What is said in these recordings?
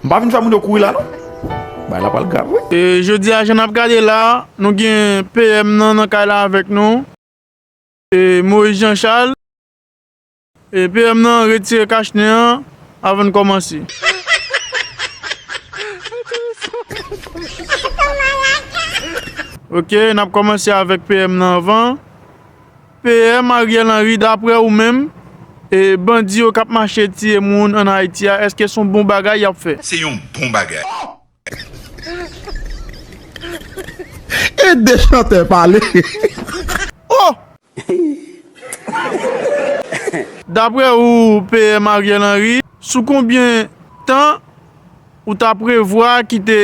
M pa vin fè moun yo kouri la non. Bagay la pral grav wi. E jodi a jan nap gade la nou gen PM nan nan kay la avèk nou. E Moise Jean Charles. E PM nan retire kach nen an avan n kòmanse. Ok nap kòmanse avèk PM nan anvan. PM Ariel Henry daprè ou menm e bandi yo kap mache tiye moun an Haiti a eske son bon bagay yap fè? Se yon bon bagay. Ede chantè pale oh. Daprè ou PM Ariel Henry sou konbyen tan ou ta prevwa kite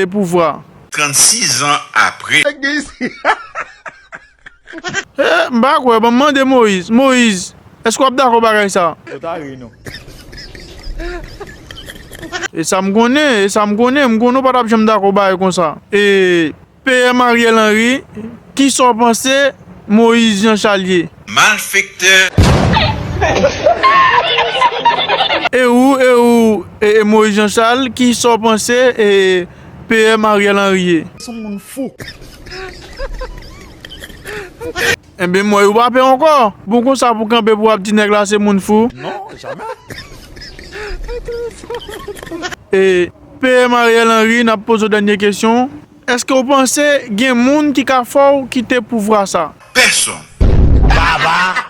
pouvwa? 36 zan apre. Eeh m pa kwè, banm mande Moise. Moise, eske wap dakò bagay sa? Ou ta ri nou. E sa m konnen, e sa m konnen, m konnen w pa tap janm dakò bagay konsa. Eeh PM Ariel Henry, kisa w panse Moise Jean Charles ye? Malfektè! E ou, e ou, ee Moise Jean Charles, kisa w panse ee PM Ariel Henry ye. Son moun fou. Enben mwen ou pa pè ankò. Bon konsa pou kanpe pou ap di nèg la se moun fou. Non jamè. E PM Ariel Henry nap poze w dènye kesyon, eske w panse gen moun ki ka fè w kite pouvwa sa? Pèsonn. Baba.